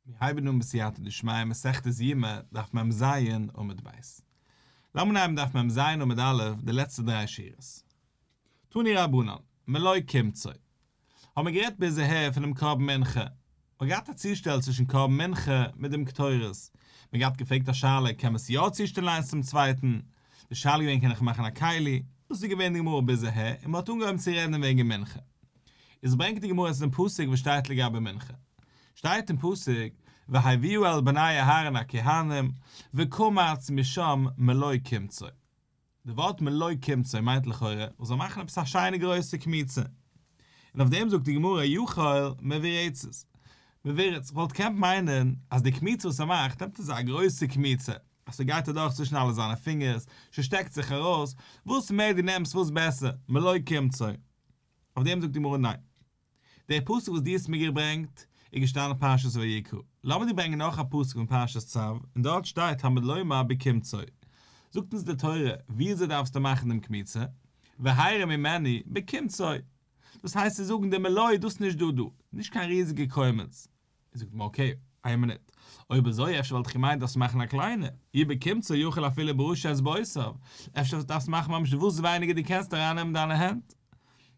מיר הייבן אן בסייעתא דשמיא מסכת יומא דף מ ז עמוד ב'. לאמיר אנהייבן דף מ ז עמוד א' די לעצטע דריי שורות. תני רבנן, מלא קמצא. האבן מיר גערעדט ביז אהער פונעם קרבן מנחה. מ'האט געהאט א צושטעל צווישן קרבן מנחה מיט דעם קטורת. מיר געהאט געפרעגט א שאלה קען מען עס יא צושטעלן איינס צום צווייטן? די שאלה איז געווען קען איך מאכן א כלי? דאס איז געווען די גמרא ביז אהער און מ'האט אנגעהויבן צו רעדן וועגן מנחה. איז ברענגט די גמרא עס אין פסוק וואס שטייט לגבי מנחה שטייט אין פסוק והביאו אל בני אהרן הכהנים וקמץ משם מלא קמצא די ווארט מלא קמצא מיינט לכאורה מען זאל מאכן עפעס א שיינע גרויסע קמיצה און אויף דעם זאגט די גמרא יאכל מבירצת מבירצת וואלט געקענט מיינען אז די קמיצה וואס ער מאכט נעמט אזא גרויסע קמיצה אז ס'גייט אדורך צווישן אלע זיינע פינגערס ס'שטעקט זיך ארויס וואס מער די נעמסט וואס בעסער מלא קמצא אויף דעם זאגט די גמרא ניין. דער פסוק וואס דו האסט מיר געברענגט איז געשטאנען אין פרשת ויקרא. לאמיר דיר ברענגען נאך א פסוק פון פרשת צו, און דארט שטייט תמיד לומר בקמצו. זאגט אונז די תורה ווי אזוי דארפסטו מאכן דעם קמיצה, והערה ממני, בקמצו. דאס הייסט צו זאגן דעם עילוי, דאס נישט דא דא, נישט קיין ריזיגע קומץ, זאגט מען אקעי, איין מינוט, אויב אזוי אפשר וואלט איך געמיינט דארפסט מאכן א קליינע, איר באקומט סאו יאכל אפילו בראשי את בעשיו, אפשר דארפסטו מאכן ממש וואס ווייניגער דו קענסט ארייננעמען דיינע הענט.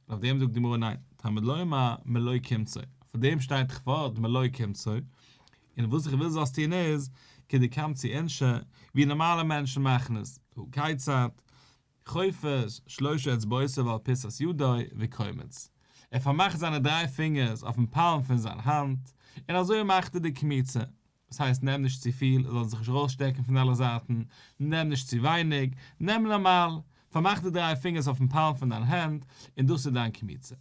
אויף דעם זאגט די גמרא ניין, תלמוד לומר מלא קמצא, פאר דעם שטייט כ ו מלא קמצא, און וואס איך וויל זאלסט טון איז, כדקמצי אנ ש, ווי נארמאלע מענטשן מאכן עס, הוא כיצד, חופש שלשה אצבעותיו על פיסת ידו וקומץ, ער פארמאכט זיינע דריי פינגערס אויפן פאלם פון זיין האנט, און אזוי מאכט ער די קמיצה, דאס הייסט נעם נישט צופיל, עס זאל זיך נישט ארויסשטעקן פון אלע זייטן, נעם נישט צו ווייניג, נעם נארמאל, פארמאך די דריי פינגערס אויפן פאלם פון דיין הענט, און דאס איז דיין קמיצה.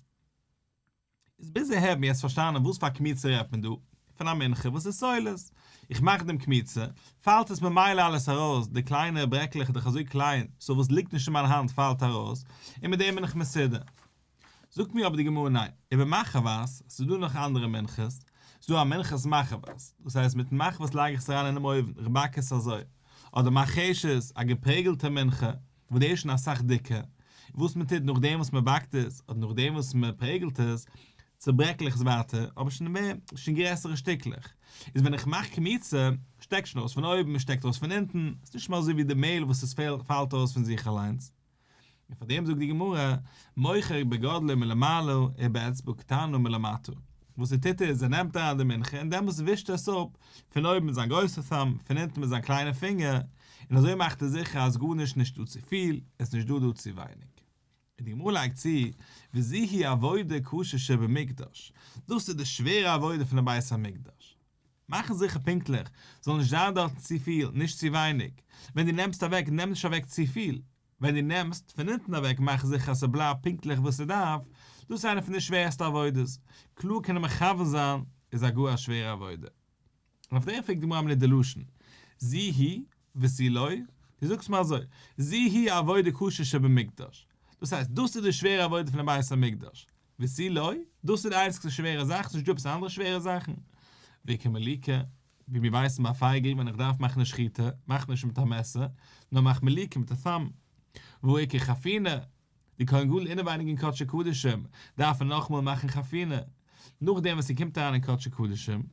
איז ביז אהער מיר עס פארשטאנען וואס פאר קמיצה רעדט מען דא? פון א מנחה וואס איז סולת. איך מאך דעם קמיצה, פאלט עס ממילא אלעס ארויס, די קליינע ברעקלעך איז דאך אזוי קליין, סאו וואס ליגט נישט אין מיין האנט פאלט ארויס, און מיט דעם בין איך מסודר. זאגט מיר אבער די גמרא ניין, איבער מחבת, ס'איז דא נאך אנדערע מנחות, ס'איז דא א מנחת מחבת, דאס הייסט מיטן מחבת לייג איך עס אריין אינעם אויוון, כ'באק עס אזוי. אדער מחשית, א געפרעגלטע מנחה. וואס דאס איז שוין אסאך דיקער, און וואס מען טוט נאכדעם וואס מען באקט עס, אדער נאכדעם וואס מען פרעגלט עס, צעברעקלעך עס ווייטער, אבער שוין מער, שוין גרעסערע שטיקלעך, איז ווען איך מאך קמיצה, שטעקט שוין אויס פון אויבן, עס שטעקט אויס פון אונטן, עס איז נישט מער אזוי ווי די מעהל וואס עס פעלט פאלט אויס פון זיך אליינס. און פאר דעם זאגט די גמרא, מוכר בגדלו מלמעלה ובאצבעו קטנו מלמטה, וואס ער טוט איז, ער נעמט אריין די מנחה און דעמאלטס ווישט ער עס אפ פון אויבן מיט זיין גרויסע thumb, פון אונטן מיט זיין קליינע פינגער, און אזוי מאכט ער זיכער אז גארנישט נישטא צופיל עס איז נישטא דא צו ווייניג. און די גמרא לייגט צו, וזוהי עבודה קשה שבמקדש, דאס איז די שווערע עבודה פון די בית המקדש, מאכן זיכער פונקטליך זאל נישט זיין דארטן צופיל נישט צו ווייניג, ווען דו נעמסט אוועק נעם נישט אוועק צופיל, ווען דו נעמסט פון אונטן אוועק מאך זיכער אז ס'בלייבט פונקטליך וואו ס'דארף, דאס איז איינע פון די שווערסטע עבודות, קלאר קען ער מכוון זיין איז א גאר א שווערע עבודה. און אויף דעם פרעגט די גמרא מנין די לשון זי הי וזי לא, דו זאגסט מיר אזוי, זי הי העבודה קשה שבמקדש, דאס הייסט דאס איז די שווערע עבודה פונעם בית המקדש, וזי לא, דאס איז די איינציגסטע שווערע זאך, ס'איז נישטא עפעס אנדערע שווערע זאכן, והיא כמליקה, ווי מיר ווייסן ביי פייגל ווען איך דארף מאכן א שחיטה, מאך נישט מיט א מעסער, נאר מאך מליקה מיט א thumb, והיא כחפינה, די כהן גדול אינעווייניג אין קדשי קדשים דארף ער נאכאמאל מאכן חפינה, נאכדעם וואס ער קומט אריין אין קדשי קדשים,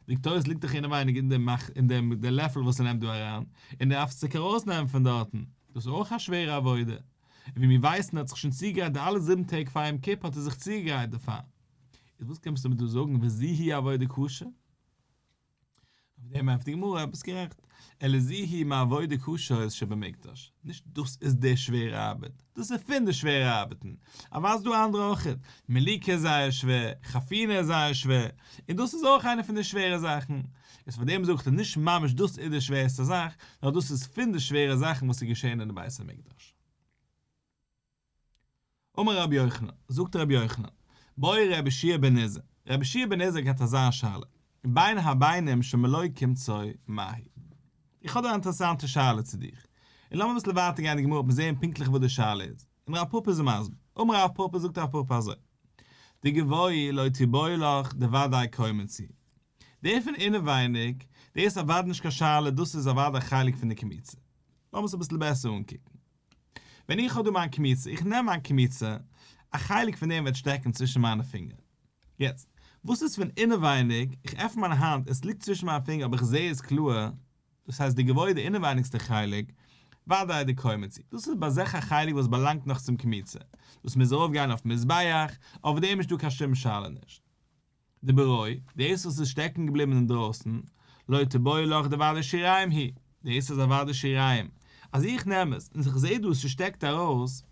דאקטוירס ליגט דאך אינעווייניג אין דעם מאכט אין דעם דער לעפל וואס ער נעמט דא אריין, און ער דארף עס צוריק ארויסנעמען פון דארטן, דאס איז אויך א שווערע עבודה, און ווי מיר ווייסן ער האט זיך שוין צוגעגרייט די אלע זיבן טעג פאר יום כיפור האט ער זיך צוגעגרייט דערפאר, איז וואס קומסטו מיר דא זאגן וזיהי עבודה קשה? אויף דעם ענטפערט די גמרא אז ביסט גערעכט. אלא זיהי מעבודה קשה איז שבמקדש, נישט דאס איז די שווערע ארבעט, דאס איז פון די שווערע ארבעטן, אבער אז דא אנדערע אויכעט, מיליקע איז זייער שווער, חפינה איז זייער שווער, און דאס איז אויך איינע פון די שווערע זאכן, איז פארדעם זאג איך אז נישט ממש דאס איז די שווערסטע זאך, נאר דאס איז פון די שווערע זאכן וואס איז געשען אין די בית המקדש. אמר רבי יוחנן, זאגט רבי יוחנן, באי רבי שיע בן עזר, רבי שיע בן עזר האט אזא שאלה, בין הביינים שמלא קמצא מהי? איך האב דא א אינטערעסאנטע שאלה צו דיך, און לאמיר אביסל ווייטער גיין אין גמרא אויף זעהן פונקטליך וואס די שאלה איז, און רב פפא איז מסביר, אמר רב פפא זאגט רב פפא אזוי, די גבאי לא תבאי לך די וודאי קוימען צו, די פון אינעווייניג, דאס איז אוודאי נישט קיין שאלה דאס איז אוודאי חלק פון די קמצא, לאמיר עס אביסל בעסער אנקוקן. ווען איך האב דא מיין קמיצה, איך נעם מיין קמיצה, א חלק פון דעם וועט שטעקן צווישן מיינע פינגער. יעצט, וואס איז פון אינעווייניג? איך עפן מיין האנט און עס ליגט צווישן מיינע פינגער אבער איך זע עס קלאר, דאס הייסט די געוואויר די אינעווייניגסטע חלק, וודאי די קוימעצי, דאס איז ביי זיך א חלק וואס באלאנגט נאך צום קמיצה, דאס מוז ארויפגיין אויפן מזבח, אויף דעם איז נישטא קיין שום שאלה נישט. די בורוי, דאס וואס איז שטעקן געבליבן אינדרויסן, לא תבואי לך די ועד השיריים היא, דאס איז א ועד השיריים, אז איך נעם עס און איך זעה דא ס'שטעקט ארויס,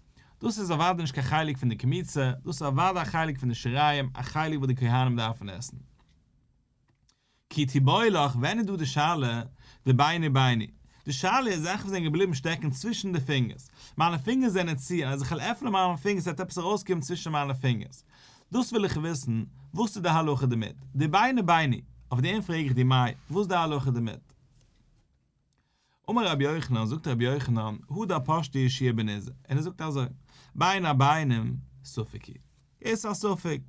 דאס איז אוודאי נישט קיין חלק פון די קמיצה, דאס איז אוודאי א חלק פון די שיריים, א חלק וואס די כהנים דארפן עסן. כי תבואי לך, ווען איז דא די שאלה די ביני ביני? די שאלה איז זאכן וואס זענען געבליבן שטעקן צווישן די פינגערס. מיינע פינגערס זענען צו און אז איך וועל עפענען מיינע פינגערס וועט עפעס ארויסקומען צווישן מיינע פינגערס. דאס וויל איך וויסן, וואס איז די הלכה דערמיט? די ביני ביני, אויף דעם פרעג איך דיר מאי, וואס איז די הלכה דערמיט? אמר רבי יוחנן, זאגט רבי יוחנן, הודא פשטי אישיע בניזא, און ער זאגט אזוי, בין הביינים ספיקי, עס איז א ספק,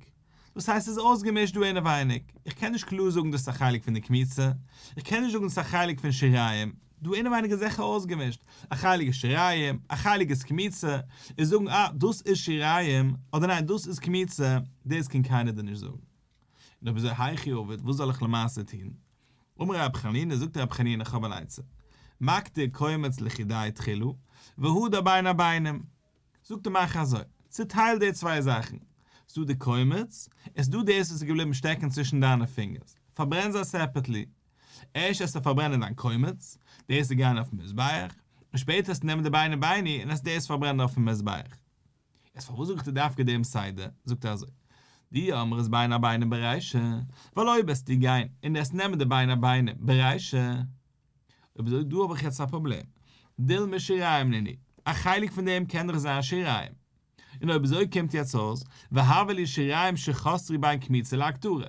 דאס הייסט עס איז אויסגעמישט דא אינעווייניג, איך קען נישט קלאר זאגן דאס איז א חלק פון די קמיצה, איך קען נישט זאגן דאס איז א חלק פון שיריים, דא אינעווייניג איז זיכער אויסגעמישט, א חלק איז שיריים, א חלק איז קמיצה, און זאגן אה, דאס איז שיריים, אדער ניין, דאס איז קמיצה, דאס קען קיינער דיר נישט זאגן. און אויב אזוי היכי עובד, וואס זאל איך למעשה טון? אמר ר' חנינא, זאגט ר' חנינא איך האב אן עצה, מקטיר קומץ לכידאי תחילו, והודה בין הבינים, זאגט ער מאך אזוי, צוטייל די צוויי זאכן, ס'דא די קומץ, און ס'דא דאס וואס איז געבליבן שטעקן צווישן דיינע פינגערס, פארברען זיי סעפערטלי, ערשט העסטו פארברענען דיין קומץ, דאס איז גיין אויפן מזבח, און שפעטער העסטו נעמען די ביני ביני און העסטו דאס פארברענען אויפן מזבח. יעצט פארוואס זאגט ער דווקא דעם סדר? זאגט ער אזוי, די אמר איז בין הבינם ברישא, ווייל אויב וועסטו גיין און עס נעמען די בין הבינם ברישא, אויב אזוי דא האב איך יעצט א פראבלעם, דילמא שיריים ליני, א חלק פון דעם קען דאך זיין שיריים, און אויב אזוי קומט יעצט אויס, והבה לי שיריים שחסרי בין כמיצה להקטרה,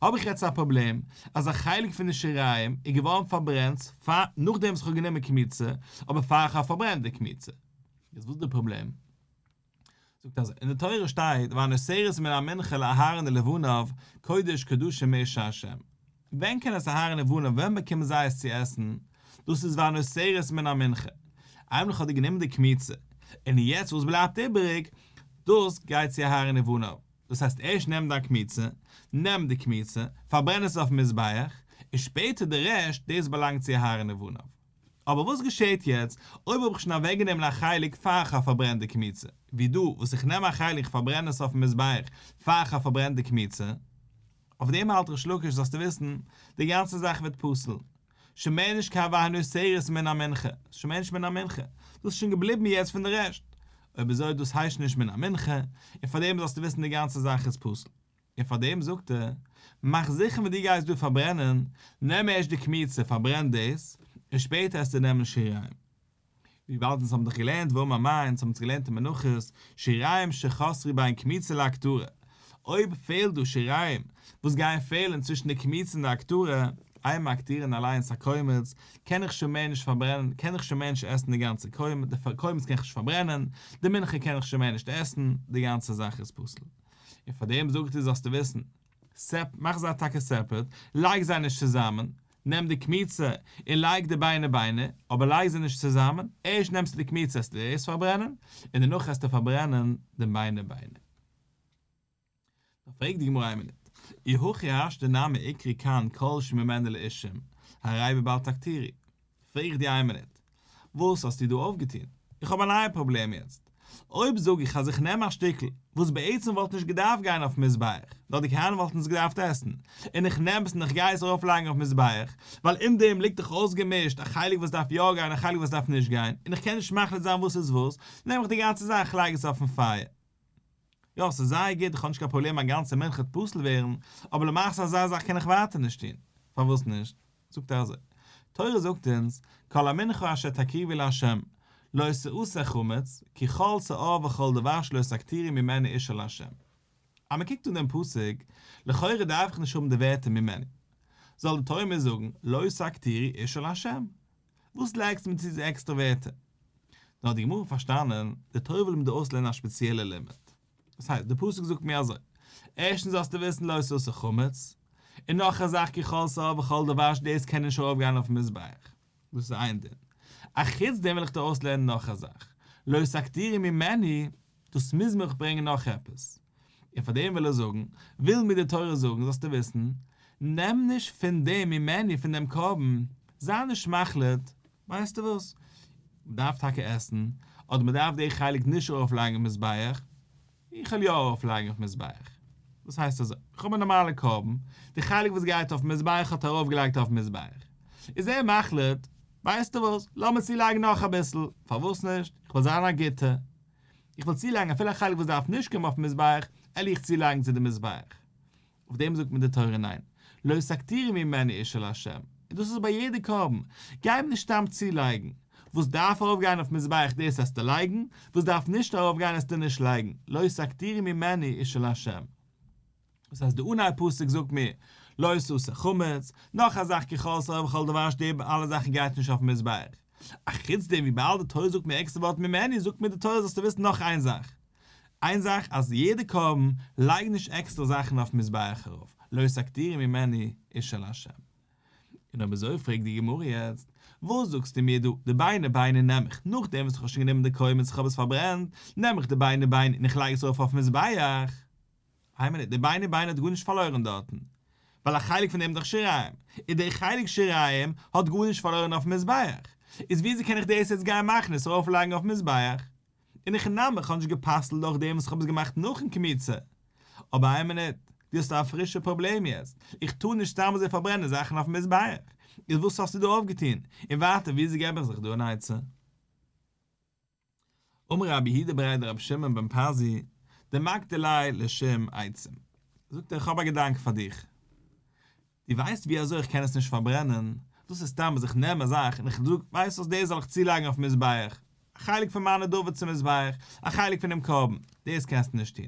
האב איך יעצט א פראבלעם אז א חלק פון די שיריים איז געווארן פארברענט נאכדעם וואס איך האב גענומען כמיצה, אבער פאר איך האב פארברענט די כמיצה. איז וואס די פראבלעם? זאגט אז אין די תורה שטייט והנושרת מן המנחה לאהרן ולבניו קודש קדשים מי שעשם, ווען קען עס אהרן און בניו ווען באקומען זיי עס צו עסן? דאס איז והנושרת מן המנחה, אייביג האט ער גענומען די קמיצה, און יעצט וואס בלייבט איבעריג דאס גייט צו אהרן און בניו, דאס הייסט ערשט נעם דיין קמיצה, נעם די קמיצה, פארברען עס אויפן מזבח, און שפעטער די רעשט, דאס באלאנגט צו אהרן און בניו. אבער וואס געשעהט יעצט אויב האב איך שוין אוועקגענומען א חלק פאר איך פארברען די קמיצה, ווי דא וואס איך נעם א חלק איך פארברען עס אויפן מזבח פאר איך האב פארברענט די קמיצה, אויף דעם האלט ריש לקיש זאלסטו וויסן די גאנצע זאך ווערט פסול, שוין מער נישט קיין והנוס שערות מן המנחה, ס'איז שוין מער נישט מן המנחה, דאס איז שוין געבליבן יעצט פון די רעשט, אויב אזוי דאס הייסט נישט מן המנחה, און פאר דעם זאלסטו וויסן די גאנצע זאך איז פסול. און פאר דעם זאגט ער, מאך זיכער ווען דו גייסט דא פארברענען, נעם ערשט די קמיצה, פארברען דאס, און שפעטער העסטו נעמען שיריים. וויבאלד אונז האבן דאך געלערנט ואום המה, אונז האבן עס געלערנט אין מנחות, שיריים שחסרי בה אין קמיצה להקטרה, אויב פעלט דא שיריים וואס גייען פעלען צווישן די קמיצה און די הקטרה, איי מקטירין אליינס א קומץ, קען איך שוין מער נישט פארברענען, קען איך שוין מער נישט עסן די גאנצע קומץ, די קומץ קען איך נישט פארברענען, די מנחה קען איך שוין מער נישט עסן, די גאנצע זאך איז פסול. און פאר דעם זאג איך דיר זאלסטו וויסן, סעפ, מאך זיי טאקע סעפערעט, לייג זיי נישט צוזאמען, נעם די קמיצה און לייג די ביינער ביינער, אבער לייג זיי נישט צוזאמען, ערשט נעמסטו די קמיצה העסטו דאס פארברענען, און דערנאך העסטו פארברענען די ביינער ביינער. דאן פרעגט די גמרא איין מינוט, אי הכי אשתא נמי עיקרי כאן כל שממנה לאישים, הרי בבל תקטירי. פרעג איך די איימינוט, וואס האסטו דא אויפגעטון? איך האב א נייע פראבלעם יעצט. אויב זאג איך אז איך נעם א שטיקל, וואס בעצם וואלט נישט געדארפט גיין אויפן מזבח, נאר די כהנים וואלטן עס געדארפט עסן, און איך נעם עס און איך גיי עס ארויפלייגן אויפן מזבח, ווייל אין דעם ליגט דאך אויסגעמישט, א חלק וואס דארף יא גיין, א חלק וואס דארף נישט גיין, און איך קען נישט מחליט זיין וואס איז וואס, נעם איך די גאנצע זאך איך לייג עס אויפן פייער. יא, ס'איז זייער גוט, איך האב נישט קיין פראבלעם א גאנצע מנחה טפסל ווערן, אבער למעשה אזא זאך קען איך ווייטער נישט טון. פארוואס נישט? זאגט ער אזוי, תורה זאגט אונז, כל המנחה אשר תקריבי לה', לא תעשה חמץ, כי כל שעור וכל דבר שלא סקתירי ממני אישה לה'. אז מען קוקט אן דעם פסוק, לכאורה דארף איך נישט האבן די ווערטער ממני. זאל די תורה מיר זאגן, לא סקתירי אישה לה'. וואס לייגסטו מיר צו די עקסטערע ווערטער? נאר האט די גמרא פארשטאנען, די תורה וויל מיר דא אויסלערנען א ספעציעלע לימוד. דאס הייסט, דער פסוק זאגט מיר אזוי, ערשטנס זאלסטו וויסן לא תעשה חמץ, און נאך א זאך כי כל שעור וכל דבר שדאס קען נישט ארויף גיין אויפן מזבח, דאס איז איין דין, אחוץ דעם וויל איך דיר אויסלערנען נאך א זאך, לא סקטירי ממני, דאס מוז מיך ברענגען נאך עפעס, און פאר דעם וויל ער זאגן, וויל מיר די תורה זאגן זאלסטו וויסן, נעם נישט פון דעם ממני פון דעם קרבן, זיי נישט מחליט, ווייסטו וואס? מ'דארף טאקע עסן, אדער מ'דארף די חלק נישט ארויפלייגן אויף מזבח, איך וועל יא ארויפלייגן אויף מזבח. דאס הייסט אזוי, איך האב א נארמאלע קרבן, די חלק וואס גייט אויף מזבח האט ער ארויפגעלייגט אויף מזבח. איז ער מחליט, ווייסטו וואס? לאמיר צולייגן נאך אביסל, פארוואס נישט? איך וויל זיין א גוטער, איך וויל צולייגן אפילו א חלק וואס דארף נישט קומען אויף מזבח, על'יך צולייגן צו די מזבח. אויף דעם זאגט מיר די תורה ניין, לא סקטירי ממני איש אל ה', און דאס איז ביי יעדע קרבן, גיי אים נישט סתם צולייגן, וואס דארף ארויפגיין אויפן מזבח דאס זאלסטו לייגן, וואס דארף נישט ארויפגיין זאלסטו נישט לייגן, לא סקטירי ממני איש אל ה'. דאס הייסט די אנהייב פסוק זאגט מיר, לא תעשה חמץ, נאך א זאך ככל שרוי וכל דבר שדי ב אלע זאכן גייט נישט אויפן מזבח, אחוץ דעם וויבאלד די תורה זאגט מיר עקסטער ווארט ממני זאגט מיר די תורה זאלסטו וויסן נאך איין זאך, איין זאך אז יעדע קרבן לייג נישט עקסטער זאכן אויפן מזבח ארויף, לא תקטירי ממני איש אל ה'. און אויב אזוי פרעגט די גמרא יעצט, וואס זאגסטו מיר דא, די ביינער ביינער נעם איך נאכדעם וואס איך האב שוין גענומען די קרבן און איך האב עס פארברענט, נעם איך די ביינער ביינער און איך לייג עס ארויף אויפן מזבח? איי מינוט, די ביינער ביינער האט גארנישט פארלוירן דארטן, ווייל א חלק פון דעם איז דאך שיריים, און די חלק שיריים האט גארנישט פארלוירן אויפן מזבח, איז וויאזוי קען איך דאס יעצט גיין מאכן עס ארויפלייגן אויפן מזבח? און איך נעם איך האב נישט גע'פסל'ט דורך דעם וואס איך האב עס געמאכט נאכן קמיצה. אבער איין מינוט, דו האסט א פרישע פראבלעם יעצט, איך טאר נישט סתם אזוי פארברענען זאכן אויפן מזבח, איז וואס האסטו דא אויפגעטון? און ווייטער וויאזוי געב איך זיך דא אן עצה? אמר רבי יהודה ברייט דרבי שמעון בן פזי דמקדלי' לשם עצה, זאגט ער איך האב א געדאנק פאר דיך, דו ווייסט ווי אזוי איך קען עס נישט פארברענען? דאס איז סתם אז איך נעם א זאך און איך זאג, ווייסט וואס, דאס זאל איך צולייגן אויפן מזבח, א חלק פון מיין נדבה צום מזבח, א חלק פונעם קרבן, דאס קענסטו נישט טון.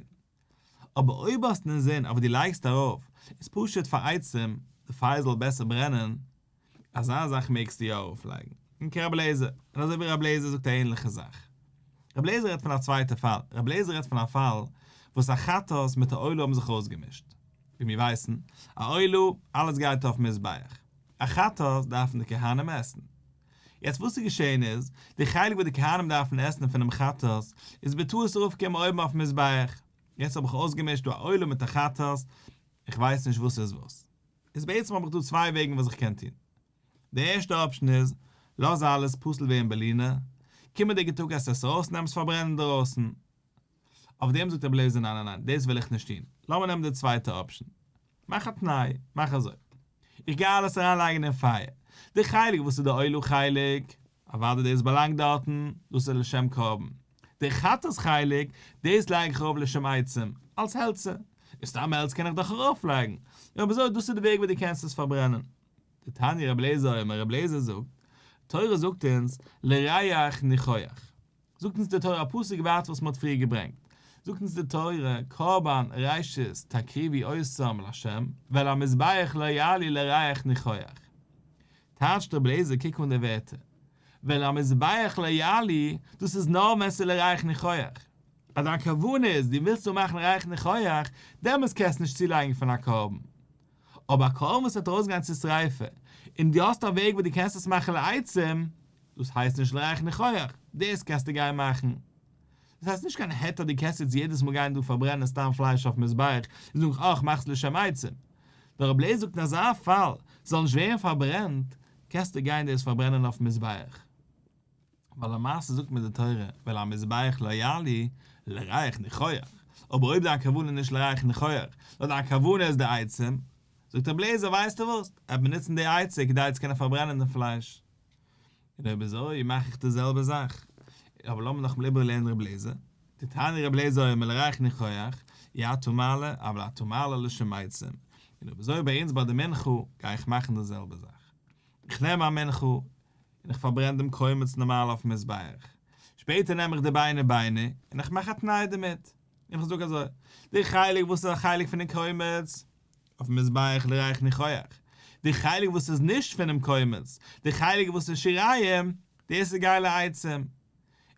אבער אויב האסט אין זין אויף וואס דו לייגסט ארויף, איז פשוט פאר עצם די פייער זאל בעסער ברענען, אזא זאך מעגסטו יא ארויפלייגן. און כרב אליעזר, און אזוי ווי רב אליעזר זאגט א ענליכע זאך. רב אליעזר רעדט פון א צווייטע פאל, רב אליעזר רעדט פון א פאל וואס א חת ס מיט א עולה האבן זיך אויסגעמישט. ווי מיר ווייסן, א עולה, אלעס גייט אויפן מזבח. א חטאת דארפן די כהנים עסן. יעצט וואס איז געשעהן איז, די חלק וואס די כהנים דארפן עסן פונעם חטאת, איז בטעות ארויפגעקומען אויבן אויפן מזבח. יעצט האב איך אויסגעמישט דא א עולה מיט א חטאת, איך ווייס נישט וואס איז וואס. איז בעצם האב איך דא צוויי וועגן וואס איך קען טון. די ערשטע אפשן איז, לאז אלעס פסול ווערן בלינה, קומענדיגע טאג עסט עס אויס און נעם עס פארברענען דערויסן. אויף דעם זאגט רבי אליעזר ניין ניין ניין דאס וועל איך נישט טון, לאמיר נעמען די צווייטע אפשען, מאך א תנאי, מאך אזוי, איך גיי אלעס אריין לייגן אין פייער, די חלק וואס איז די עולה חלק, אוודאי דאס באלאנגט דארטן, דאס איז לשם קרבן, די חטאת חלק, דאס לייג איך אראפ לשם עצים, אלס העלצער, און סתם העלץ קען איך דאך ארויף לייגן, און אזוי דאס איז די וועג ווי דו קענסט עס פארברענען. די תניא רבי אליעזר אומר רבי אליעזר זאגט, תורה זאגט אונז לריח ניחוח, זאגט אונז די תורה א פסוק ווייט וואס מען האט פריער געברענגט, זאגט אונז די תורה, קרבן ראשית תקריבי אויסזאם לה', ועל המזבח לא יעלי לריח ניחוח. טייטשט רבי אליעזר קוק אן די ווערטער, ועל המזבח לא יעלי, דאס איז נאר ווען ס'איז לריח ניחוח. אז דיין כוונה איז דו ווילסט דא מאכן ריח ניחוח, דעמאלס קענסטו נישט צולייגן פון א קרבן. אבער א קרבן וואס וועט ארויסגיין צו שריפה, און דו האסט א וועג וואס דו קענסט עס מאכן לעצים, דאס הייסט נישט לרייכן איך אויך, דאס קענסטו גיין מאכן. דאס הייסט נישט קיין היתר דו קענסט יעצט יעדעס מאל גיין דא פארברענען סתם פלייש אויפן מזבח און זאגן אה כ'מאך עס לשם עצום. דער רב לייזער זאגט אין אזא פאל ס'זאל נישט ווערן פארברענט קענסטו גיין דאס פארברענען אויפן מזבח. ווייל למעשה זאגט מיר די תורה ועל המזבח לא יעלה לרייכן איך אויך. אבער אויב דיין כוונה איז נישט לרייכן איך אויך, נאר דיין כוונה איז די עצם, זאגט רב לייזער ווייסטו וואס, עט מיר נוצן די עצה כדי צו קענען פארברענען דעם פלייש. און אויב אזוי מאך איך די זעלבע זאך. אבער לאמיר נאכאמאל איבערלערנען רבי אליעזר. די תניא רבי אליעזר אומר לריח ניחוח, אי אתה מעלה, אבל אתה מעלה לשם מעשים. און אויב אזוי ביי אונז ביי די מנחה גיי איך מאכן די זעלבע זאך. איך נעם מיין מנחה, און איך פארברען דעם קומץ נארמאל אויפן מזבח. שפעטער נעם איך די ביינער ביינער, און איך מאך א תנאי דערמיט. און איך זאג אזוי, די חלק וואס איז א חלק פונעם קומץ, אויפן מזבח לריח ניחוח, די חלק וואס איז נישט פונעם קומץ, די חלק וואס איז שיריים, דאס איז גיי לעצם. און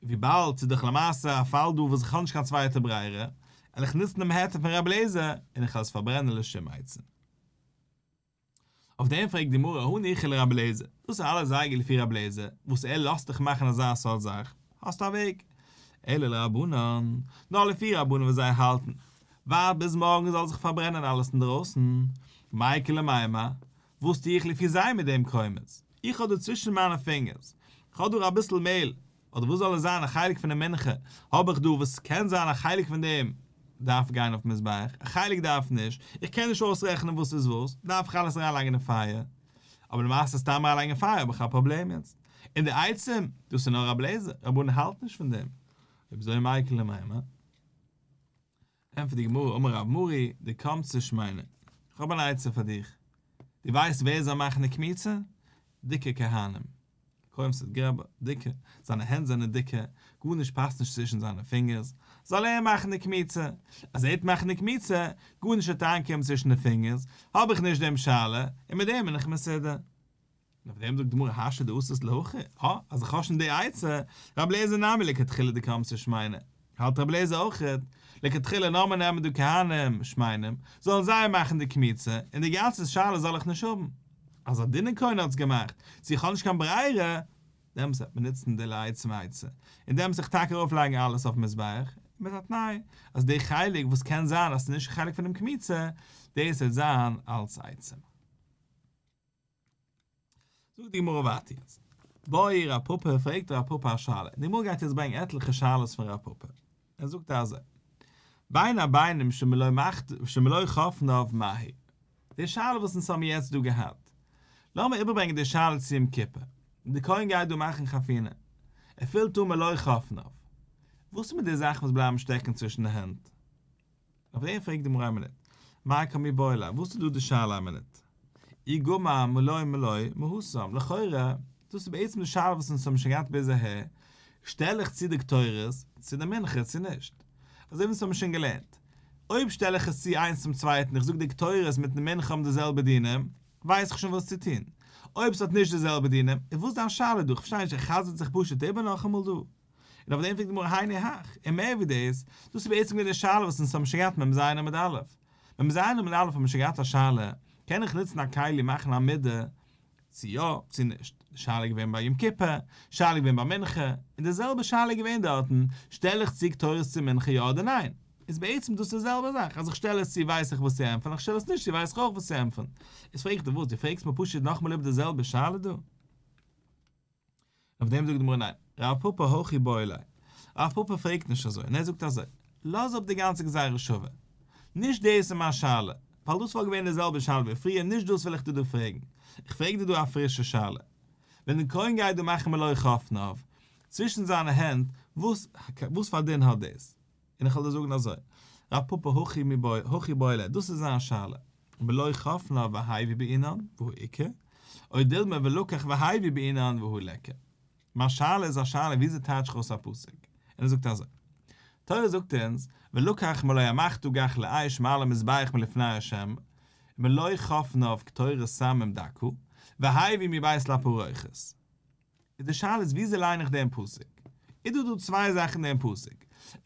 וויבאלד ס'איז דאך למעשה א פאל דא וואס איך האב נישט קיין צווייטע ברירה, וועל איך נוצן דעם היתר פון ר' אליעזר, און איך וועל עס פארברענען לשום עצה. אויף דעם פרעגט די גמרא הא ניחא לר' אליעזר, דאס איז אלעס זייגער לפי ר' אליעזר, וואס ער לאזט דיך מאכן אזא סארט זאך, האסטו א וועג. אלא לרבנן, נאר לפי רבנן וואס זיי האלטן, ווארט ביז מארגן זאל זיך פארברענען אלעס אינדרויסן, מאי קא למאי מה, וואס טו איך לפי זיי מיט דעם קוימעס? איך האב דא צווישן מיינע פינגערס, כ'האב דא אביסל מעהל, אדער וואס זאל עס זיין, א חלק פונעם מנחה האב איך דא, וואס קען זיין א חלק פון דעם דארף גיין אויפן מזבח, א חלק דארף נישט, איך קען נישט אויסרעכענען וואס איז וואס, דארף איך אלעס אריינלייגן אין פייער? אבער למעשה סתם אריינלייגן אין פייער האב איך א פראבלעם יעצט, און די עצם, דאס איז נאר א בלעזער, רבונו האלט נישט פון דעם, אויב אזוי מאי קא למאי מה? ענטפערט די גמרא, אמר רב מרי דקמצא שמעינן, איך האב אן עצה פאר דיך, דו ווייסט ווער זיי מאכן די קמיצה? דיקע כהנים, כהן פון סערט גרבא, דיקע, זיינע הענט זענען דיקע, גארנישט פאסט נישט צווישן זיינע פינגערס, זאל ער מאכן די קמיצה, אז ער וועט מאכן די קמיצה, גארנישט וועט אריינקומען צווישן די פינגערס, האב איך נישט דעם שאלה, און מיט דעם בין איך מסודר. און אויף דעם זאגט די גמרא האשה דאסית להכי, הא, אז איך האב שוין די עצה, ר' אליעזר נעמי לכתחילה די קמצא שמעינא, האלט ר' אליעזר אויכעט, לכתחילה לאמיר נעמען די כהנים שמעינאים, זאלן זיי מאכן די קמיצה, און די גאנצע שאלה זאל איך נישט האבן. אז א דינער כהן האט עס געמאכט, צו איך האב נישט קיין ברירה, דעמאלס וועט מען נוצן די לייצן עצה, און דעמאלס זיך טאקע ארויפלייגן אלעס אויפן מזבח, מיט א תנאי, אז די חלק וואס קען זיין אז ס'איז נישט חלק פונעם קמיצה, דאס וועט זיין אלס עצה. זאגט די גמרא ווייטער יעצט באי רב פפא פרעגט רב פפא א שאלה די גמרא גייט יעצט ברענגען עטליכע שאלות פון רב פפא ער זאגט אזוי בין הבינים שמלא חפניו מהי די שאלה וואס אונז האבן יעצט דא געהאט לאמיר איבערברענגען די שאלה צו יום כיפור די כהן גייט דא מאכן חפינה ער פילט אן מלא חפניו וואס איז מיט די זאכן וואס בלייבן שטעקן צווישן די הענט? אויף דעם פרעגט די גמרא א מינוט, מאי קמי בעולא, וואס איז דא די שאלה א מינוט? אי גמא מלא מלא מהוסם, לכאורה, דאס איז בעצם די שאלה וואס אונז האבן שוין געהאט ביז אהער, שטעל איך צו די קטורת צו די מנחה צו נישט? אזוי ווי אונז האבן שוין געלערנט, אויב שטעל איך עס צו איינס צום צווייטן, איך זאג די קטורת מיטן מנחה האבן די זעלבע דינים, ווייס איך שוין וואס צו טון, אויב עס האט נישט די זעלבע דינים, איז וואס דיין שאלה דא? כ'פארשטיי נישט, ער חזר'ט זיך פשוט איבער נאכאמאל דא? און אויף דעם פרעגט די גמרא הני הך, און מער ווי דאס, דאס איז בעצם געווען די שאלה וואס אונז האבן שוין געהאט מ ז עמוד א'. מ ז עמוד א' האבן מיר שוין געהאט א שאלה, קען איך נוצן א כלי מאכן א מידה, צו יא צו נישט, די שאלה איז געווען ביי יום כיפור, די שאלה איז געווען ביי מנחה, און די זעלבע שאלה איז געווען דארטן, שטעל איך צו קטורת צו מנחה יא אדער ניין? איז בעצם דאס די זעלבע זאך, אז איך שטעל עס צו ווייס איך וואס צו ענטפערן, אז איך שטעל עס נישט צו ווייס איך אויך וואס צו ענטפערן. איז פרעגט ער וואס, דו פרעגסט מיר פשוט נאכאמאל איבער די זעלבע שאלה דא? אויף דעם זאגט די גמרא ניין, רב פפא הכי באי אלי, רב פפא פרעגט נישט אזוי, און ער זאגט אזוי, לאז אפ די גאנצע גזירה שווה, נישט דאס איז מיין שאלה, ווייל דאס וואלט געווען די זעלבע שאלה ווי פריער, נישט דאס וויל איך דיר דא פרעגן, איך פרעג דיר דא א פרישע שאלה, ווען די קרוין גייט דא מאכן מלוה חפניו צווישן זיינע הענט, וואס פאר דין האט דאס? און איך וועל דיר זאגן אזוי, רב פפא הכי מבעי הכי בעילה, דאס איז זיין שאלה, ולא חפ נא והאי ווי בעינן והוא עיקר, אוי דילמא ולקח והאי ווי בעינן והוא לעקר. מיין שאלה איז א שאלה וויאזוי טייטש איך אויס א פסוק? און ער זאגט אזוי, תורה זאגט אונז, ולקח מלא המחטו גח לאיש מעל המזבח מלפני השם, ולא חפ נא וקטורת סמים דקו, והאי ווי מבית לפרוכת. איז די שאלה איז וויאזוי ליין איך דעם פסוק? איז דא דא צוויי זאכן אין דעם פסוק.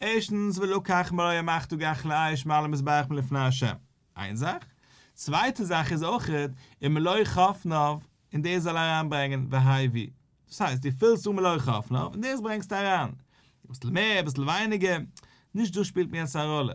ערשטנס ולקח מלוה מאכט דא גחלי אש מעל המזבח מלפני ה'. איין זאך. צווייטע זאך איז אויך און מלוה חפניו און דאס זאל אריינברענגען והי' ווי. דאס הייסט דו פילסט אן מלוה חפניו און דאס ברענגסטו אריין. אביסל מער אביסל ווייניגער. נישט דאס שפילט מיר יעצט א ראלע.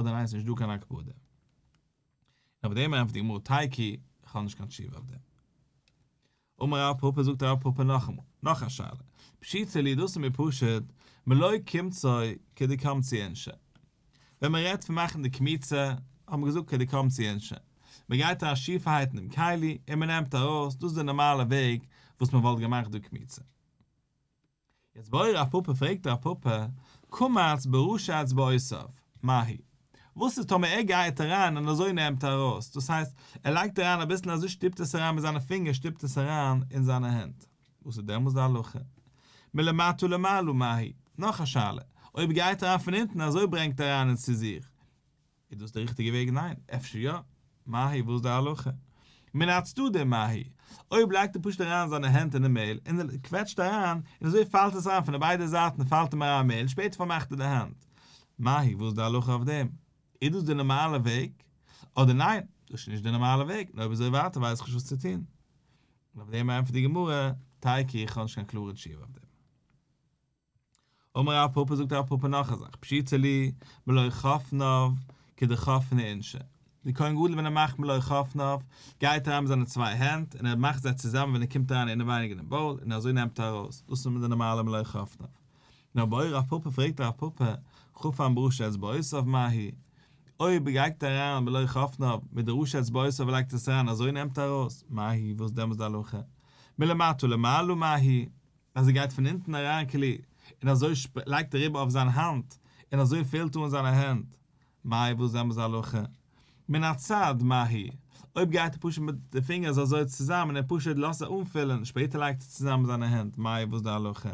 אדער ניין ס'נישט דא קיין הקפדה. און אויף דעם ענטפערט די גמרא תי' כי כ'האב נישט קיין תשובה אויף דעם. אמר רב פפא זאגט רב פפא נאכאמאל נאך א שאלה פשיטא לי דאס איז מיר פשוט מלא קמצא כדקמצי אינשי ווען מ'רעדט פון מאכן די קמיצה האט מען געזאגט כדקמצי אינשי מ'גייט אריין שיפערהייטן דעם כלי און מ'נעמט ארויס דאס איז די נארמאלע וועג וואס מ'וואלט געמאכט דא קמיצה. יעצט בורא רב פאפא פרעגט רב פאפא, קמץ ברשע את בעשיו, מהי? וואס איז טאמער ער גייעט אריין און אזוי נעמט ער ארויס, דאס הייסט, ער לייגט אריין אביסל און אזוי שטופט עס אריין מיט זיינע פינגער שטופט עס אריין אין זיינע הענט, וואס איז דעמאלס די הלכה? מלמטה למעלה, מהי? נאך א שאלה, אויב גייט אריין פון אונטן אזוי ברענגט ער אריין אונז צו זיך, איז דאס דער ריכטיגער וועג? ניין, אפשר יא? מהאי? וואס איז די הלכה? מן הצדדי מהאי? אויב לייגט ער פשוט אריין זיינע הענט אינעם מעהל און ער קוועטשט אריין און אזוי פאלט עס אריין פון די ביידע זייטן פאלט אים אריין מעהל און שפעטער פארמאכט ער די האנט מהאי? וואס איז די הלכה אויף דעם? איז דאס די נארמאלע וועג? אדער ניין, דאס איז נישט די נארמאלע וועג, און אויב אזוי ווייטער ווייס איך נישט וואס צו טון. און אויף דעם ענטפערט די גמרא, טיי קרי איך האב נישט קיין קלארע תשובה אויף דעם. אמר רב פפא זאגט רב פפא נאך א זאך פשיטא לי מלא חפניו כדחפני אינשי די כהן גדול ווען ער מאכט מלא חפניו גייט אריין מיט זיינע צוויי הענט און ער מאכט זיי צוזאמען ווען ער קומט אריין אינעווייניג אינעם באול און אזוי נעמט ער ארויס דאס איז נאר די נארמאלע מלא חפניו נאר ביי רב פפא פרעגט רב פפא כף אן בראש אצבעותיו מה היא אויב ער גייגט אריין מלא חפניו מיט די ראש אצבעותיו און לייגט עס אריין אזוי נעמט ער ארויס מה היא וואס דעמאלס די הלכה מלמטה למעלה מה היא אז ער גייט פון אונטן אריין כלי, און אזוי שפ לייגט ער איבער אויף זיין האנט, און אזוי פעלט אן זיינע הענט, מאי וואס זעמער זיי הלכה? מן הצד מה הי', אויב גייט ער פשוט מיט די פינגערס אזוי צוזאמען און פשוט לאזט זיי אנפילען, שפעטער לייגט ער צוזאמען זיינע הענט, מאי וואס די הלכה?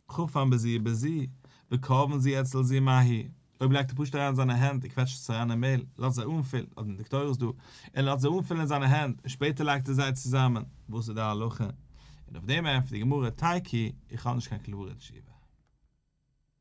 כפם בזיע בזיע, וכאבן זיע אצל זיע מה הי'. אויב לייגט ער פשוט אריין זיינע הענט און קוועטשט עס אריין אין מעהל, לאזט זיי אנפילן, האט מען דאקטוירס דא, און לאזט זיי אנפילן אין זיינע הענט, און שפעטער לייגט ער זיי צוזאמען, וואס איז די הלכה? און אויף דעם ענטפערט די גמרא, תייקי, איך האב נישט קיין קלארע תשובה.